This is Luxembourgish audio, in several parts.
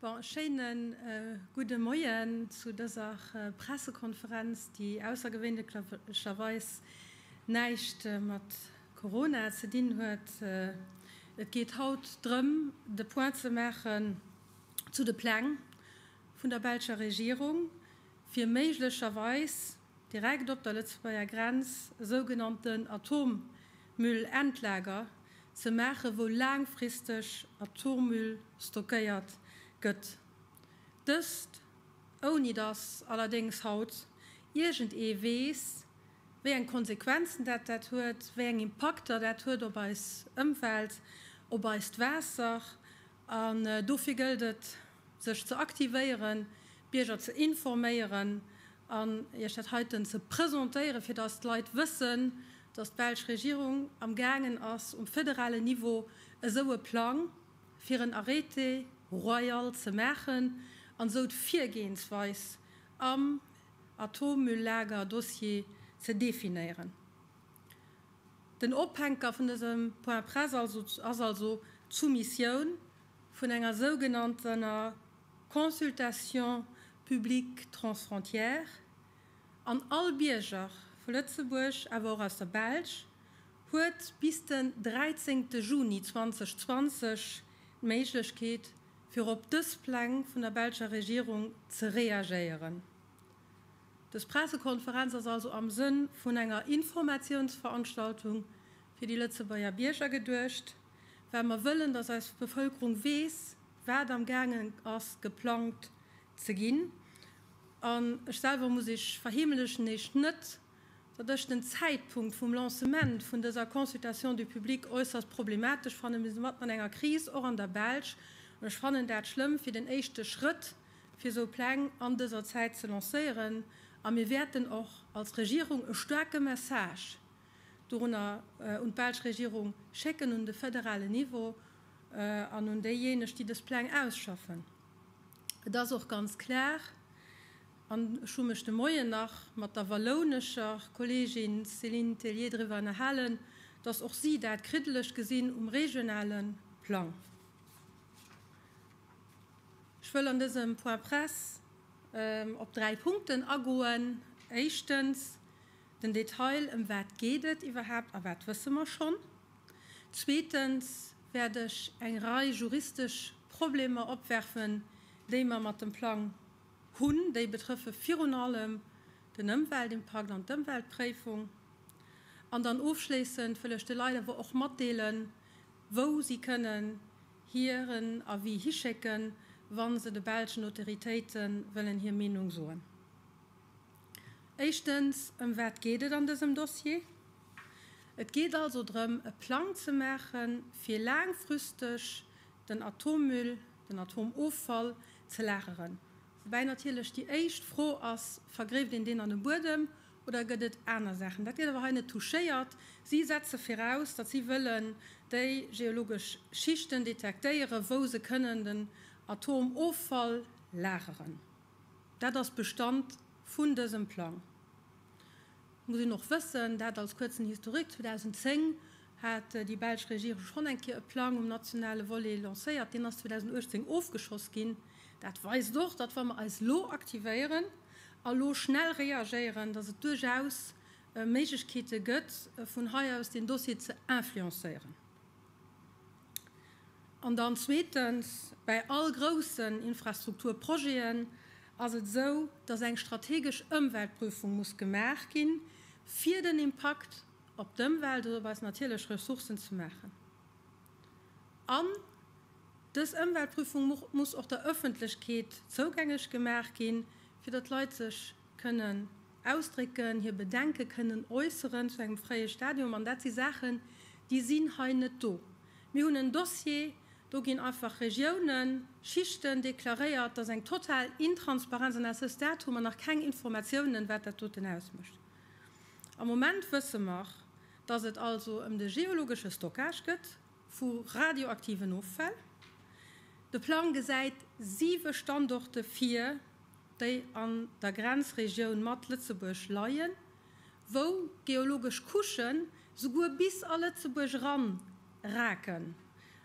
Bon, schéine gudde Moien zu dëser Pressekonferenz, déi aussergewéinlecherweis näischt mat Corona ze dinn huet. Et geet haut drëm, de Point ze maachen zu de Pläng vun der belscher Regierung, fir méiglecherweis, Direkt op der Lëtzebuerger Grenz e sougenannten Atommüll-Endlager ze maachen, wou laangfristeg Atommüll stockéiert gëtt. Dëst ouni dass allerdéngs haut iergend ee weess, wéi eng Konsequenzen dat dat huet, wéi eng Impakter dat huet op eis Ëmwelt, op eist Waasser. An dofir gëllt et, sech ze aktivéieren, d'Bierger ze informéieren an Iech dat heiten ze presentéieren, fir dass d'Leit wëssen, dass d'belsch Regierung amgaangen ass, um federalen Niveau esou e Plang fir en Arrêté royal ze maachen an esou d'Virgehensweis am Atommülllager-Dossier ze definéieren. Den Ophänker vun dësem Point-presse ass also d'Soumissioun vun enger sougenanntener Consultation publique transfrontière an all Bierger vu Lëtzebuerg, awer och aus der Belsch, huet bis den 13 Juni 2020 d'Méiglechkeet, fir op dës Pläng vun der belscher Regierung ze reagéieren. Dës Pressekonferenz ass also am Sënn vun enger Informatiounsveranstaltung fir déi Lëtzebuerger Bierger geduecht. well mer wëllen, dass eis Bevëlkerung weess, wat amgaangen ass geplangt ze ginn. An ech selwer, muss ech verheemelechen, eescht net, datt ech den Zäitpunkt vum Lancement vun dëser Consultation du public äusserst problematesch fannen. Mir si mat an enger Kris, och an der Belsch, an ech fannen dat schlëmm, fir den éischte Schrëtt fir esou Pläng an dëser Zäit ze lancéieren. A mir wäerten och als Regierung e staarke Message dorunner un d'belsch Regierung schécken, un de federale Niveau an un déijéineg, déi dës Pläng ausschaffen. Et ass och ganz klar, an ech hu mech de Moien nach mat der wallounescher Kolleegin Céline Tellier driwwer ënnerhalen, dass och si dat kriddeleg gesinn um regionale Plang. Ech wëll an dësem Point presse op dräi Punkten agoen. Éischtens. Den Detail, ëm wat geet et iwwerhaapt a wat wësse mer schonn? Zweetens wäert ech eng Rei juristesch Problemer opwerfen, déi mer mat dem Plang hunn. Déi betrëffe virun allem den Ëmweltimpakt an d'Ëmweltpréifung. An dann ofschléissend wëll ech de Leit awer och matdeelen, wou si kënnen hiren Avis hischécken, wa se de belschen Autoritéite wëllen hir Meenung soen. Éischtens, ëm wat geet et an dësem Dossier? Et geet also drëm, e Plang ze maache fir laangfristeg den Atommüll, den Atomoffall ze lageren. Woubäi natierlech déi éischt Fro ass, Vergréft een deen an de Buedem oder gëtt et aner Saachen? Dat gëtt awer hei net touchéiert. Si setze viraus, datt si wëllen déi geologesch Schichten detektéieren, wou se kënnen den Atomoffall lageren. Dat ass Bestand vun dësem Plang. Et muss een och wëssen, dat als kuerzen Historique, 2010 hat déi belsch Regierung schonn eng Kéier e Plang um nationale Volet lancéiert. Deen ass 2018 ofgeschoss ginn. Dat weist och, datt wa mer eis elo aktivéieren a lo schnell reagéieren, datt et duerchaus Méiglechkeete gëtt, vun hei aus deen Dossier ze influencéieren. An dann zweetens, Bei all groussen Infrastrukturprojeten ass et esou, dass eng strategesch Ëmweltprüfung muss gemaach ginn, fir den Impakt op d'Ëmwelt oder op eis natierlech Ressourcen ze maachen. An dës Ëmweltprüfung muss och der Öffentlechkeet zougänglech gemaach ginn, fir datt d'Leit sech kënnen, Ausdrécken, hir Bedenke kënnen äusseren zu engem fréie Stadium. An dat si Saachen, déi sinn hei net do. Mir hunn en Dossier, do ginn einfach Regiounen, Schichten deklaréiert. Dat ass eng total Intransparenz. An à ce stade hu mer nach keng Informatiounen, wat dat doten ausmécht. Am Moment wësse mer, dass et also ëm de geologesche Stockage gëtt. vu radioaktiven Offäll. De Plang gesäit siwe Standorte vir, déi an der Grenzregioun mat Lëtzebuerg leien, wou geologesch Couchen souguer bis a Lëtzebuerg eran raken.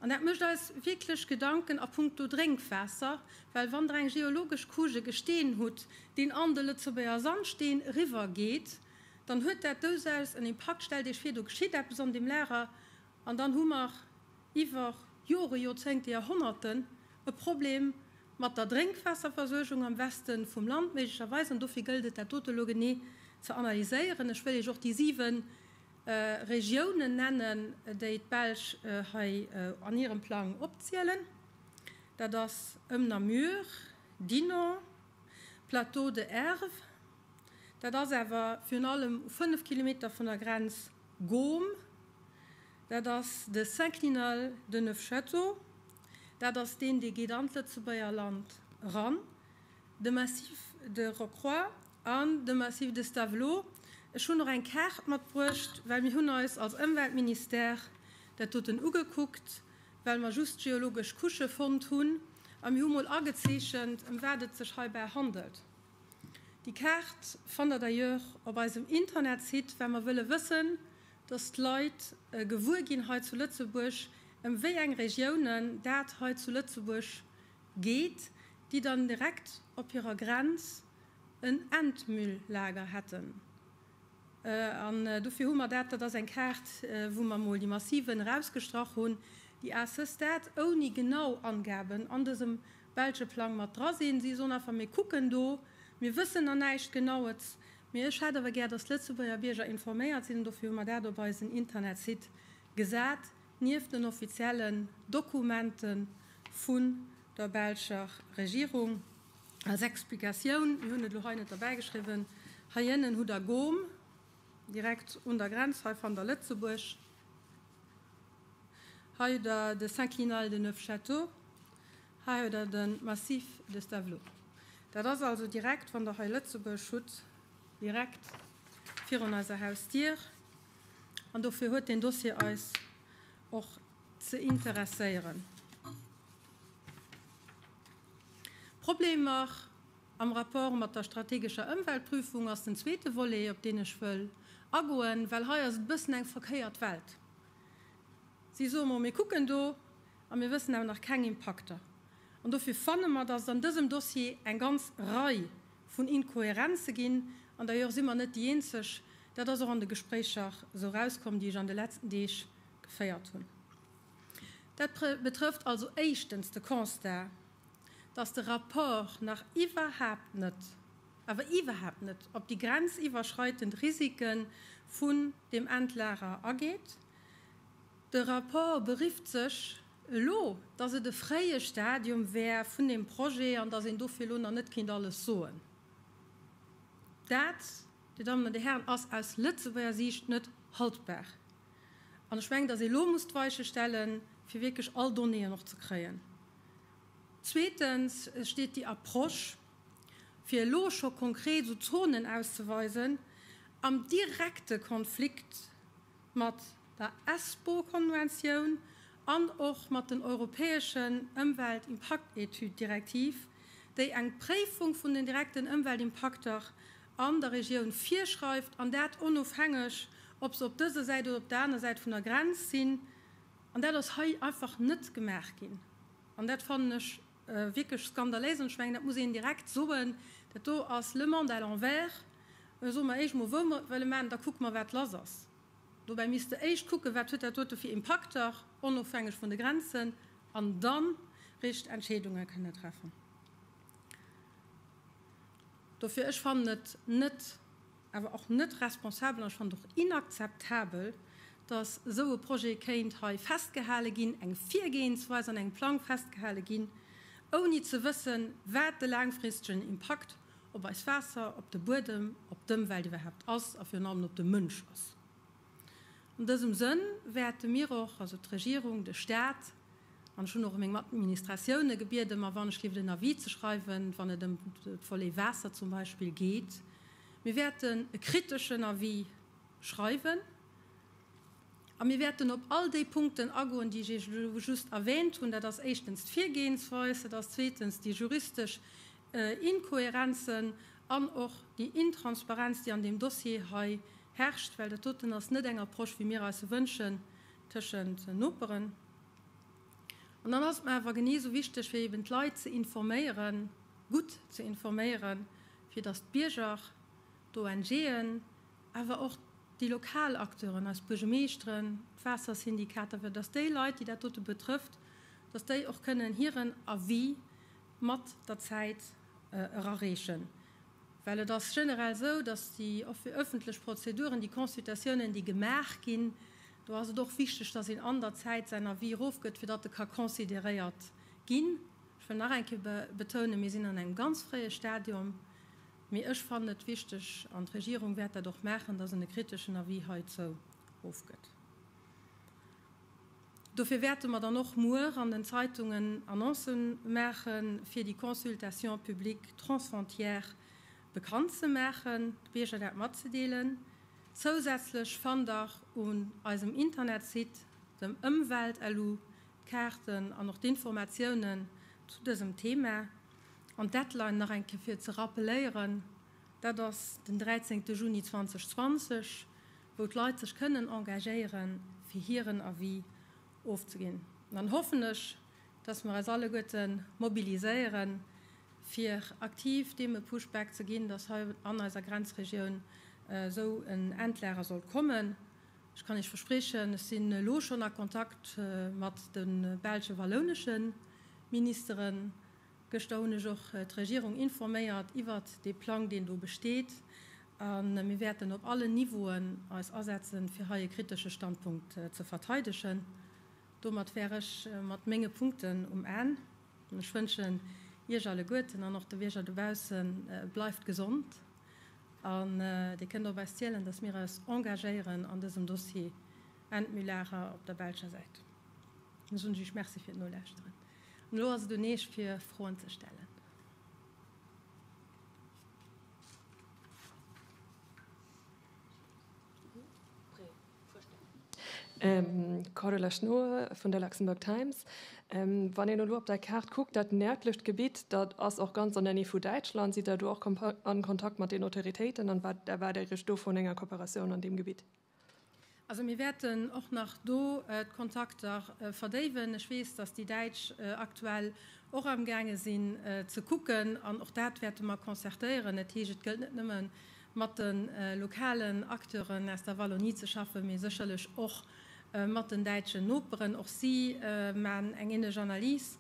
An dat mécht eis wierklech Gedanken a punkto Drénkwaasser, well wann Der eng geologesch Couche, e Gesteen hutt, deen an de Lëtzebuerger Sandsteen eriwwer geet, dann huet dat dousaus en Impakt. Stellt Iech vir, do geschitt eppes an deem Lager An dann hu mer iwwer Jore, Joerzéngte, Joerhonnerten e Problem mat der Drénkwaasserversuergung am Weste vum Land méiglecherweis. An dofir gëllt et, dat dote elo genee ze analyséieren. Ech wëll Iech och déi siwe Regiounen nennen, déi d'Belsch hei an hirem Plang opzielen, Dat ass ëm Namur, Dinant, Plateau de Herve, dat ass awer virun allem u fënnef Kilometer vun der Grenz, Gaume, dat ass de Synclinal de Neufchâteau, dat ass deen, dee geet an d'Lëtzebuerger Land eran, de Massif de Rocroi an de Massif de Stavelot. Ech hunn och eng Kaart matbruecht, well mir hunn eis als Ëmweltministère dat doten ugekuckt, well mer just geologesch Couchë fonnt hunn a mir hu mol agezeechent, ëm wat et sech heibäi handelt. Déi Kaart fannt der d'ailleurs op eisem Internetsite, well mer wëlle wëssen, dass d'Leit gewuer ginn hei zu Lëtzebuerg, ëm wéi eng Regiounen dat hei zu Lëtzebuerg geet, déi dann direkt op hirer Grenz en Endmülllager hätten. An dofir hu mer dat, dat ass eng Kaart, wou mer emol déi Massiven erausgestrach hunn, déi A-ce stade ouni genau Angaben an dësem Belsche Plang mat dra sinn. Si sollen einfach méi kucken do. Mir wëssen der näischt Genaues. Mee ech hätt awer gär, datt d'Lëtzebuerger Bierger informéiert sinn. An dofir hu mer dat op eisen Internetsite gesat, nieft den offiziellen Dokumente vun der belscher Regierung. Als Explikatioun, mir hunn et elo hei net derbäigeschriwwen, Heihinnen hutt der Gome, direkt un der Grenz hei van der Lëtzebuerg. Hei huet der de Synclinal de Neufchâteau. Hei huet der de Massif de Stavelot. Dat ass also direkt, wann der hei Lëtzebuerg hutt, direkt virun eiser Hausdier. An dofir huet deen Dossier eis och ze interesséieren. Problemer? Am Rapport mat der strategescher Ëmweltprüfung ass den zweete Volet, op deen ech wëll agoen, well hei ass et e bëssen eng verkéiert Welt. Si soe mol, mir kucken do a mir wëssen awer nach keng Impakter. An dofir fanne mer, datt et an dësem Dossier eng ganz Rei vun Inkohärenze ginn. An d'ailleurs si mer net déi Eenzeg. Dat ass och an de Gespréicher esou erauskomm, déi ech an de letzten Deeg geféiert hunn. Dat betrëfft also éischtens de Constat, dass de Rapport nach iwwerhaapt net, awer iwwerhaapt net op déi grenziwwerschreitend Risiken vun dem Endlager ageet. De Rapport berifft sech elo, dass et e fréie Stadium wär vun deem Projet an dass een dofir elo nach net kéint alles soen. Dat, Dir Dammen an Dir Hären, ass aus Lëtzebuerger Siicht net haltbar. An ech mengen, dass ee lo muss d'Weiche stellen, fir wierklech all Donnéeën och ze kréien. Zweetens steet déi Approche, fir elo scho konkret esou Zonen auszeweisen, am direkte Konflikt mat der Espoo-Konventioun an och mat den europäeschen Ëmweltimpaktetüd-Direktiv, déi eng Préifung vun den direkten Ëmweltimpakter an der Regioun virschreift, an dat onofhängeg, ob se op dëser Säit oder op der aner Säit vun der Grenz sinn. An dat ass hei einfach net gemaach ginn. An dat fannen ech wierklech skandaléis. An ech mengen, dat muss een direkt soen, Dat do ass le monde à l'envers. Soe mer éischt emol, wou mer et wëlle maachen, da kucke mer, wat lass ass. Dobäi misst Der éischt kucken, wat huet dat dote fir Impakter, onofhängeg vun de Grenzen, an dann richteg Entscheedunge kënne treffen. Dofir, ech fannen et net awer och net responsabel an ech fannen et och inakzeptabel, dass esou e Projet kéint hei festgehale ginn, eng Virgehensweis an engem Plang festgehale ginn, ouni ze wëssen, wat de laangfristegen Impakt op eis Waasser, op de Buedem, op d'Ëmwelt iwwerhaapt ass a virun allem op de Mënsch ass. An dësem Sënn wäerte mir och, also d'Regierung, de Stat, an ech hunn och meng Administratioune gebieden, mer wann ech géif en Avis ze schreiwen, wann et ëm de Volet Waasser zum Beispill geet, mir wäerten e kriteschen Avis schreiwen a mir wäerten op all déi Punkten agoen, déi ech Iech elo just erwähnt hunn. Dat ass éischtens d'Virgehensweis, dat ass zweetens déi juristesch Inkohärenzen an och déi Intransparenz, déi an deem Dossier hei herrscht, well dat doten ass net eng Approche, wéi mir eis se wënschen tëschent Noperen. An dann ass et mer awer genee esou wichteg, fir eben d'Leit ze informéieren, gutt ze informéieren, fir dass d'Bierger, d'ONGen, awer och déi lokal Acteuren, eis Buergemeeschteren, d'Waassersyndikater, fir dass déi Leit, déi dat dote betrëfft, dass déi och kënnen hiren Avis mat der Zäit erareechen, well et ass generell esou, datt déi öffentlech Prozeduren, déi Consultatiounen, déi gemaach ginn, do ass et och wichteg, datt een an der Zäit säin Avis erofgëtt, fir datt e ka consideréiert ginn. Ech wëll nach eng Kéier betounen, mir sinn an engem ganz fréie Stadium, mee ech fannen et wichteg, an d'Regierung wäert dat och maachen, datt en e kriteschen Avis heizou ofgëtt. Dofir wäerte mer dann och muer an den Zeitungen Annonce maache fir déi Consultation publique transfrontière bekannt ze maachen, de Bierger dat matzedeelen. Zousätzlech fannt der un eisem Internetsite, dem Ëmwelt-LU, d'Kaarten an och d'Informatiounen zu dësem Thema. An d'Deadline, nach eng Kéier fir ze rappeléieren, dat ass den 13 Juni 2020. wou d'Leit sech kënnen engagéieren, fir hiren Avis ofzeginn. An dann hoffen ech, dass mer eis alleguerte mobiliséieren, fir aktiv deem e Pushback ze ginn, dass hei an eiser Grenzregioun esou en Endlager sollt kommen. Ech kann Iech verspriechen, ech sinn elo schonn a Kontakt mat de belsch-wallounesche Ministeren, Gëschter hunn ech och d'Regierung informéiert iwwert dee Plang, deen do besteet, a mir wäerten op allen Niveauen eis asetzen, fir hei e kritesche Standpunkt ze verteidegen. Domat wär ech mat menge Punkten um Enn. Ech wënschen Iech alleguerten an och de Bierger dobausse bleift gesond an Dir kënnt op eis zielen, dass mir eis engagéieren an dësem Dossier Enn d'Mühlacher op der belscher Säit. Ech soen Iech Merci fir d'Nolauschteren. An elo ass et un Eech fir Froen ze stellen. Cordula Schnoe vun der Luxembourg Times, Wann een elo op der Kaart kuckt, dat nërdlecht Gebitt, dat ass och ganz an der Näh vu Däitschland. Sidd Der do och a Kontakt mat den Autoritéiten an wat erwaart Dir Iech do vun enger Kooperatioun an deem Gebitt? Also mir wäerten och nach do d'Kontakter verdéiwen. Ech weess, datt déi Däitsch aktuell och amgaange sinn ze kucken, an och dat wäerte mer concertéieren. Dat heescht, et gëllt net nëmme mat de lokalen Acteuren aus der Wallonie ze schaffen, mee sécherlech och mat den däitschen Noperen. Och si maachen eng änlech Analys,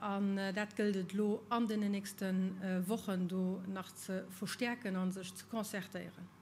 an dat gëllt et elo an deenen nächste Wochen do nach ze verstäerken a sech ze concertéieren.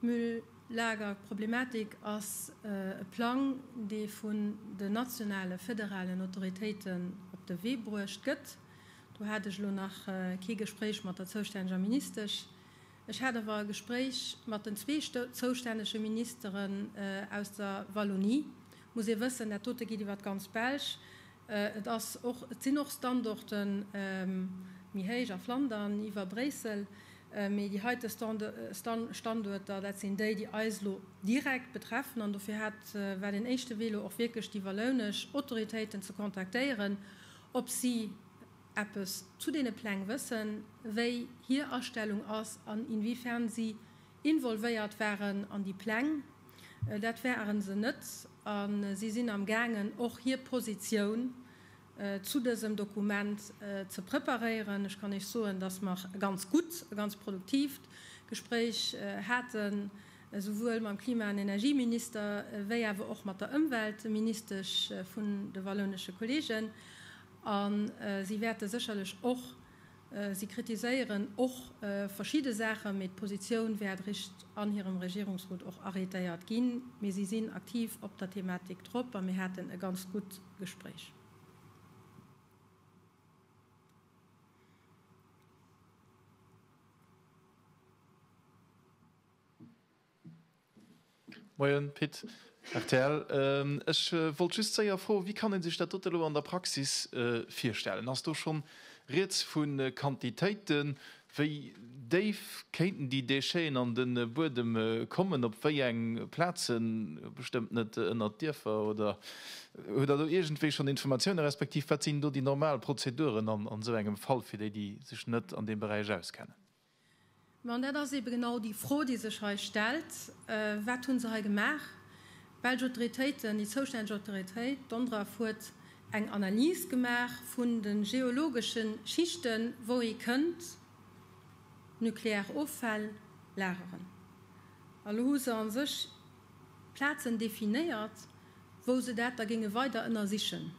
D'Mülllagerproblematik ass e Plang, dee vun den nationale federalen Autoritéiten op de Wee bruecht gëtt. Do hat ech elo nach kee Gespréich mat der zoustänneger Ministesch. Ech hat awer e Gespréich mat den zwee zoustännege Ministeren aus der Wallonie. Muss ee wëssen, dat dote geet iwwer d'ganz Belsch. Et ass och, et sinn och Standorten méi héich a Flandern iwwer Bréissel, mee déi heite Standuerter, dat sinn déi, déi eis elo direkt betreffen. An dofir hat, war deen éischte Wee elo och wierklech déi wallounesch Autoritéiten ze kontaktéieren, ob si eppes zu deene Pläng wëssen, wéi hir Astellung ass an inwiefern si Involvéiert waren an déi Pläng. Dat waren se net a si sinn am gaangen och hir Positioun zu dësem Dokument ze preparéieren. Ech kann Iech soen, dass mer e ganz gutt, e ganz produktiivt Gespréich haten, esouwuel mam Klima an Energieminister wéi awer och mat der Ëmweltministesch vun de wallounesche Kolleegen. A si wäerte sécherlech och Si kritiséieren och verschidde Saachen, mee d'Positioun wär dricht an hirem Regierungsrot och arrétéiert ginn. Mee si sinn aktiv op der Thematik drop a mir haten e ganz gutt Gespréich. Moien Pit, rtl. Ech wollt just séier froen, wéi kann ee sech dat dote elo an der Praxis virstellen? Ass do schonn Rieds vu Quantitéiten? Wéi déif kéinten déi Déchet'en an de Buedem kommen? Op wéi eng Plazen? Bestëmmt net ënnert d'Dierfer, oder? Hutt Der do iergendwéi schonn Informatiounen, respektiv wat sinn do déi normal Prozeduren an esou engem Fall, fir déi, déi sech net an deem Beräich auskennen? Mä, an dat ass ebe genau déi Fro, déi sech hei stellt, wat hu se hei gemaach? D'belsch Autoritéiten, déi zoustänneg Autoritéit, d'ONDRAF, huet eng Analys gemaach vun de geologesche Schichten, wou ee kënnt nuklear Offäll lageren. An elo hu se a sech Plazen definéiert, wou se dat da géinge weider ënnersichen.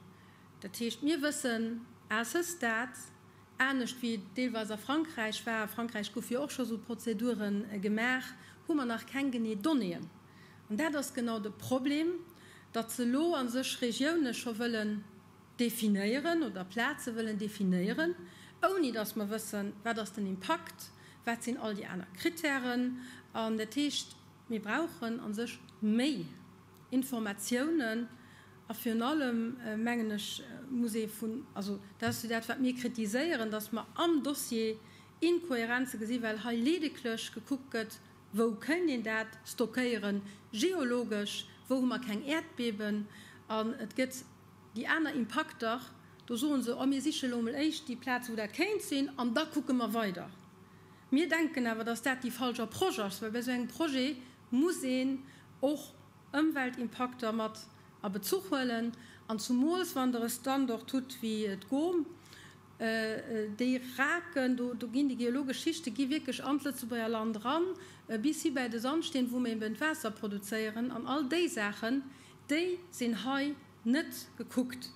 Dat heescht, mir wëssen à ce stade, Anescht wéi et deelweis a Frankräich war, a Frankräich goufe jo och scho esou Prozedure gemaach, hu mer nach keng genee Donnéeën. An dat ass genau de Problem, datt se elo a sech Regioune scho wëllen definéieren oder Plaze wëllen definéieren, ouni datt mer wëssen, wat ass den Impakt, wat sinn all déi aner Krittären. An dat heescht, mir brauchen a sech méi. Informatiounen a virun allem, mengen ech, muss ee vun, also dat ass jo dat, wat mir kritiséieren, datt mer am Dossier Inkohärenze gesinn, well hei ledeglech gekuckt gëtt, Wou kéint een dat stockéieren geologesch? Wou hu mer keng Äerdbeben? An et gëtt déi aner Impakter, do soe se, Oh, mir siche elo emol éischt déi Plaze wou dat kéint sinn an da kucke mer weider. Mir denken awer, datt dat déi falsch Approche ass, well bei esou engem Projet muss een och Ëmweltimpakter mat a Bezuch huelen, an zumools wann der e Standort hutt wéi d'GOM. Déi raken do, do ginn déi geologesch Schichte gi wierklech an d'Lëtzebuerger Land eran, bis hi bäi de Sandsteen, wou mir eben d'Waasser produzéieren. An all déi Saachen, déi sinn hei net gekuckt.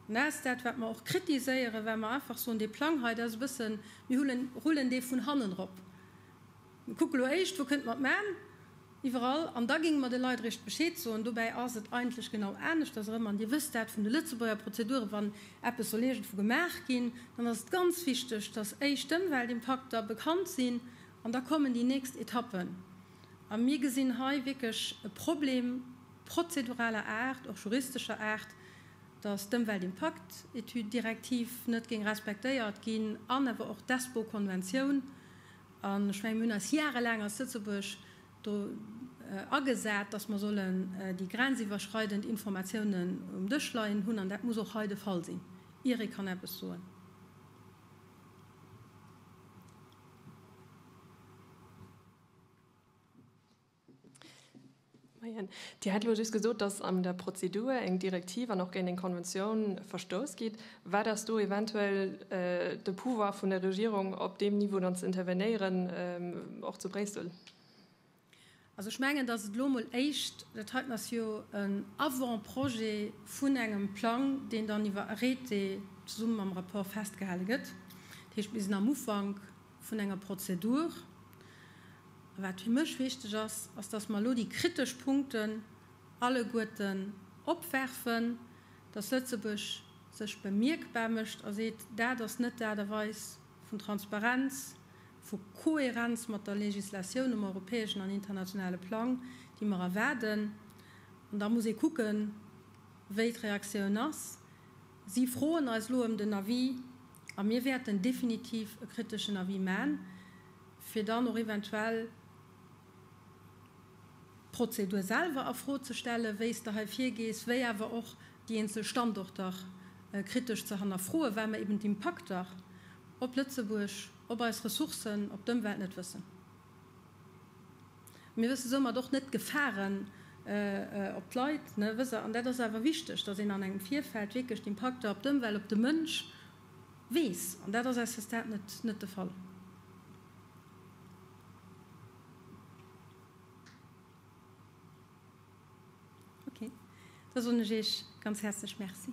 An dat ass dat, wat mer och kritiséieren, well mer einfach soen, dee Plang hei, dat ass e bëssen, mir rullen dee vun hannen erop. Mir kucken elo éischt, wou kënnt mer d'Man iwwerall an da géinge mer de Leit eréischt Bescheed soen. Dobäi ass et eigentlech genau aneschters erëm, an Dir wësst dat vun de Lëtzebuerger Prozeduren, wann eppes soll iergendwou gemaach ginn, dann ass et ganz wichteg, dass éischt d'Ëmweltimpakter bekannt sinn an da kommen déi nächst Etappen. A mir gesinn hei wierklech e Problem prozeduraler Aart, och juristescher Aart, dass d'Ëmweltimpaktetüd-Direktiv net géing respektéiert ginn an awer och d'Espoo-Konventioun. An ech mengen, mir hunn eis jahrelaang als Lëtzebuerg do agesat, dass mer sollen déi grenziwwerschreidend Informatiounen um Dësch leien hunn. An dat muss och hei de Fall sinn, ier ee kann eppes soen. Moien. Dir hätt elo just gesot, datt an der Prozedur eng Direktiv an och géint eng Konventioun verstouss gitt. Wat ass do eventuell de Pouvoir vun der Regierung, op deem Niveau dann ze intervenéieren, och zu Bréissel? Also ech mengen, datt et elo emol éischt, dat heiten ass jo en Avant-projet vun engem Plang, deen dann iwwer Arrêté zesumme mam Rapport festgehale gëtt. Dat heescht, mir sinn am Ufank. vun enger Prozedur. A wat fir mech wichteg ass, ass, dass mer elo déi kritesch Punkten alleguerten opwerfen, dass Lëtzebuerg sech bemierkbar mécht a seet, Dat ass net d'Aart a Weis vun Transparenz, vu Kohärenz mat der Legislatioun um europäeschen an internationale Plang, déi mer erwaarden. An da muss ee kucken, wéi d'Reaktioun ass. Si froen eis elo ëm den Avis a mir wäerten definitiv e kriteschen Avis man, fir dann och eventuell d'Prozedur selwer a Fro ze stellen, wéi s de hei virgees, wéi awer och déi eenzel Standorter kritesch ze hannerfroen, well mer eben d'Impakter op Lëtzebuerg, op eis Ressourcen, op d'Ëmwelt net wëssen. Mir wësse soumat och net d'Gefaren op d'Leit. An dat ass awer wichteg, datt een an engem Virfeld wierklech d'Impakter op d'Ëmwelt, op de Mënsch weess. An dat ass à ce stade net de Fall. Okay, da soen ech Iech ganz häerzlech Merci.